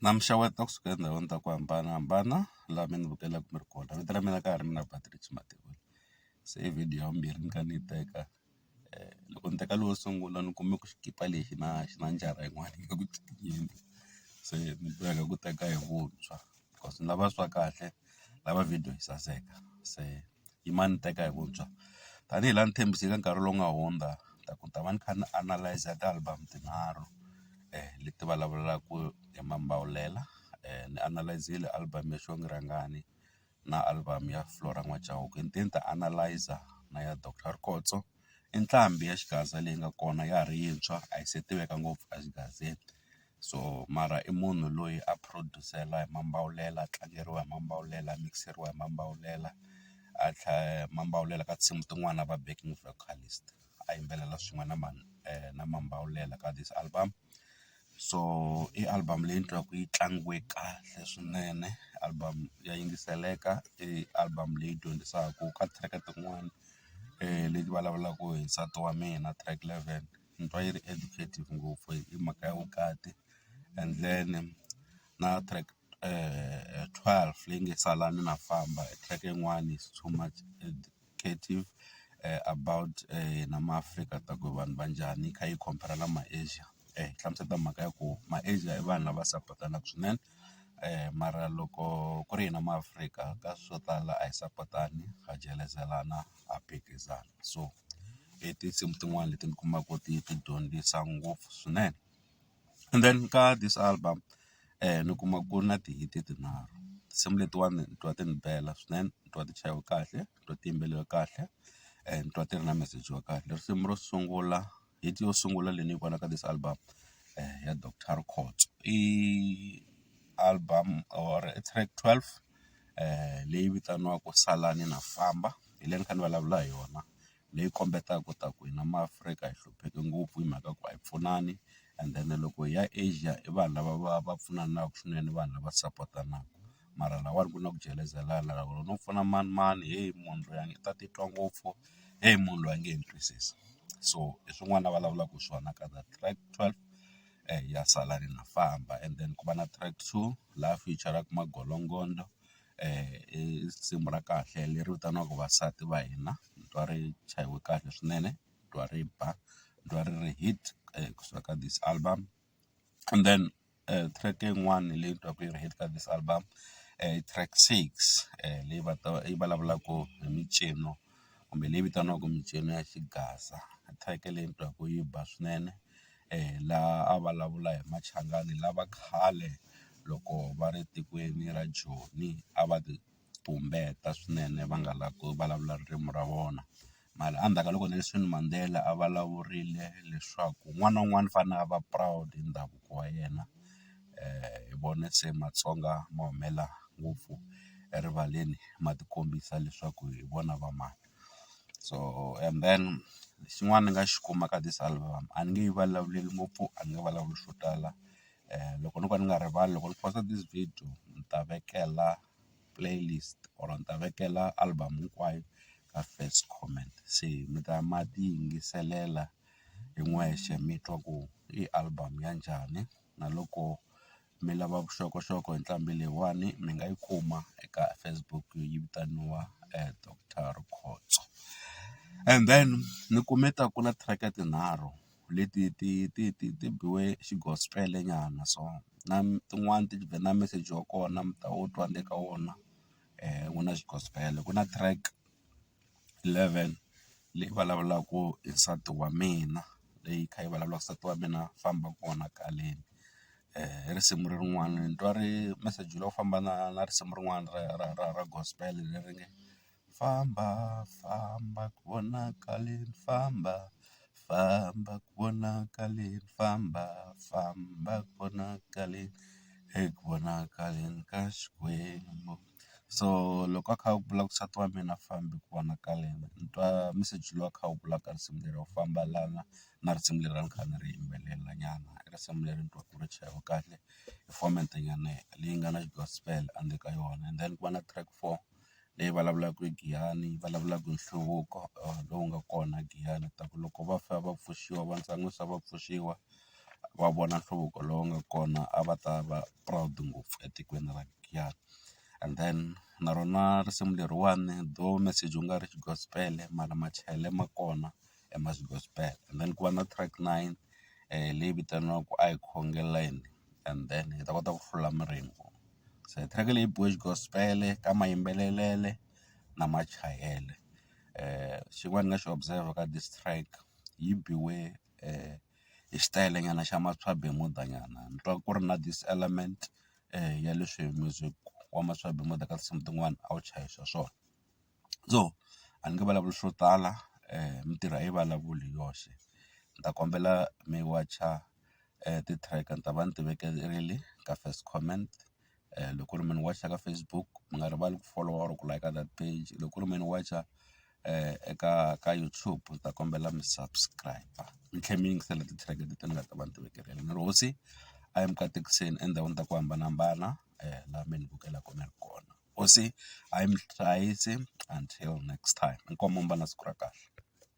Na mi xeweta kusuka etindhawini ta ku hambanahambana laha mi ni vukelaka mi ri kona vito ra mina ka ha ri mina Patrick Mativula se i video ya vumbirhi ni kha ni yi teka loko ni teka lowu wo sungula ni kume ku xikipa lexi na xi na njara yin'wana yi nga ku cincenki se ni boheka ku teka hi vuntshwa cause ni lava swa kahle ni lava video yi saseka se. Yimani ni teka hi vuntshwa tanihi laha ni tshembise eka nkarhi lowu nga hundza ta ku ni ta va ni kha ni analyse ti-album tinharhu leti vulavulaka hi Mambawulela ni analyse-ile album ya Xongi Rhangani na album ya Flora N'wa Chauke hinkwenu ta analyse na ya Doctor Rikhotso. i nqambi ya xigaza leyi nga kona ya ha ri yintshwa a yi se tiveka ngopfu a xigazini so mara i munhu loyi a produce-la hi mambawulela a tlangeriwa hi mambawulela a mikiseriwa hi mambawulela a tlhela mambawulela ka tinsimu tin'wana a va backing vocalist a yimbelela swin'we na na mambawulela ka this album. so i album leyi ni twaka yi tlangiwe kahle swinene album ya yingiseleka i album leyi dyondzisaka ka track tin'wani leti vulavulaka hi nsati wa mina track eleven ni twa yi ri educative ngopfu hi mhaka ya vukati and then na track. twelve leyi nge sala ni na famba track yin'wani is too much educative about hina ma Afrika ta ku vanhu va njhani yi kha yi compare na ma Asia hi hlamuseta mhaka ya ku ma Asia i vanhu lava support-anaku swinene mara loko ku ri hina ma Afrika ka swo tala a hi sapotani ha jelezelana ha phikizana so i tinsimu tin'wani leti ni kumaka ti ti dyondzisa ngopfu swinene. And then ka this album ni kuma ku ri na ti-hit tinharhu tinsimu letiwani ni twa ti ni bela swinene ni twa ti chayiwe kahle ni twa ti yimbeleriwe kahle ni twa ti ri na meseji wa kahle. Risimu ro sungula hit yo sungula leyi ni yi vonaka this album ya Doctor Khotso i album or i track twelve leyi vitaniwaka Salani Na Famba hi leyi ni kha ni vulavula hi yona. leyi kombetaka ku ta ku hina maAfrika hi hlupheke ngopfu hi mhaka ku a hi pfunani and then loko hi ya Asia i vanhu lava va va pfunanaka swinene i vanhu lava support-anaka mara lahawani ku na ku jelezelana loko no pfuna manimani heyi munhu loyi a nge ta titwa ngopfu heyi munhu loyi a nge he ni twisisi so hi swin'wana a vulavulaka hi swona ka that track twelve ya salani na famba and then ku va na track two laha feature-raka magologondzo i risimu ra kahle leri vitaniwaka vasati va hina ni twa ri chayiwe kahle swinene ni twa ri ba ni twa ri ri hit kusuka ka this album and then track yin'wani leyi ni twaka yi ri hit ka this album i track six leyi yi vulavulaka hi mincino. kumbe leyi vitaniwaka mincino ya xigaza ni theke leyi ni twa ku yi ba swinene laha a vulavula hi machangani lava khale loko va ri etikweni ra joni a va ti tumbeta swinene va nga lavi ku vulavula ririmi ra vona mara endzhaku ka loko Nelson Mandela a vulavurile leswaku un'wana na un'wana u fanele a va proud hi ndhavuko wa yena. hi vone se matsonga ma humela ngopfu erivaleni ma ti kombisa leswaku hi vona va mani so and then xin'wana ni nga xi kuma ka this album a ni nge yi vulavuleli ngopfu a ni nge vulavuli swo tala loko no ka ni nga rivali loko ni post-a this video ni ta vekela playlist or ni ta vekela album hinkwayo ka first comment se mi ta ma ti yingiselela hi n'wexe mi twa ku i album ya njhani. na loko mi lava vuxokoxoko hi nqambi leyiwani mi nga yi kuma eka Facebook yi vitaniwa Doctor Rikhotso and then ni kume ta ku na track tinharhu leti ti ti ti ti biwe xi gospel nyana so na tin'wani ti ve na meseji wa kona mi ta wu twa ni le ka wona ku na xi gospel ku na track. 11 leyi vulavulaka hi nsati wa mina leyi yi kha yi vulavulaka nsati wa mina famba kona kwaleni hi risimu lerin'wani ni twa ri meseji lowu famba na na risimu rin'wana ra ra ra ra gospel leri nge famba famba kona kwaleni famba famba kona kwaleni famba famba kona kwaleni eku vonakaleni ka Xikwembu. so loko a kha a ku vula ku nsati wa mina a fambi ku vonakala yena ni twa meseji lowu a kha a wu vulaka risimu leri u famba lana na risimu leri a ni kha ni ri yimbelela nyana i risimu leri ni twa ku ri chayiwa kahle hi format nyana leyi nga na xi gospel a ndzeni ka yona and then ku va na track four leyi vulavulaka hi Giyani yi vulavulaka hi nhluvuko lowu nga kona Giyani ta ku loko va fa va pfuxiwa va ntlangwini se va pfuxiwa. va vona nhluvuko lowu nga kona a va ta va proud ngopfu etikweni ra Giyani. And then na rona risimu leriwani though message wu nga ri gospel-e mara machayele ma kona i ma gospel. And then ku va na track nine leyi vitaniwaka a hi khongeleni and then hi ta kota ku hlula miringo. Se track leyi biwe gospel-e ka mayimbelelele na machayele. Xin'wana ni nga xi observer ka this track yi biwe . hi xitayele nyana xa maswabi muda nyana ni twa ku ri na this element ya leswi music wa maswabi muda ka tinsimu tin'wani a wu chayisa swona so a ni nge vulavuli swo tala mintirho a yi vulavuli hi yoxe ni ta kombela mi wacha ti-track ni ta va ni ti vekerile ka first comment loko ku ri munhu ka Facebook mi nga rivali ku follow or ku like that page loko ku ri me ni wacha eka ka YouTube ni ta kombela mi subscribe mi tlhe mi yingisela ti-track leti ni nga ta va ni ti vekele ni ri hosi a yi mi katekiseni endhawini ta ku hambanahambana la mi ni vukelaku mi ri kona hosi a yi mi hlayisi until next time inkomu mi va na siku ra kahle.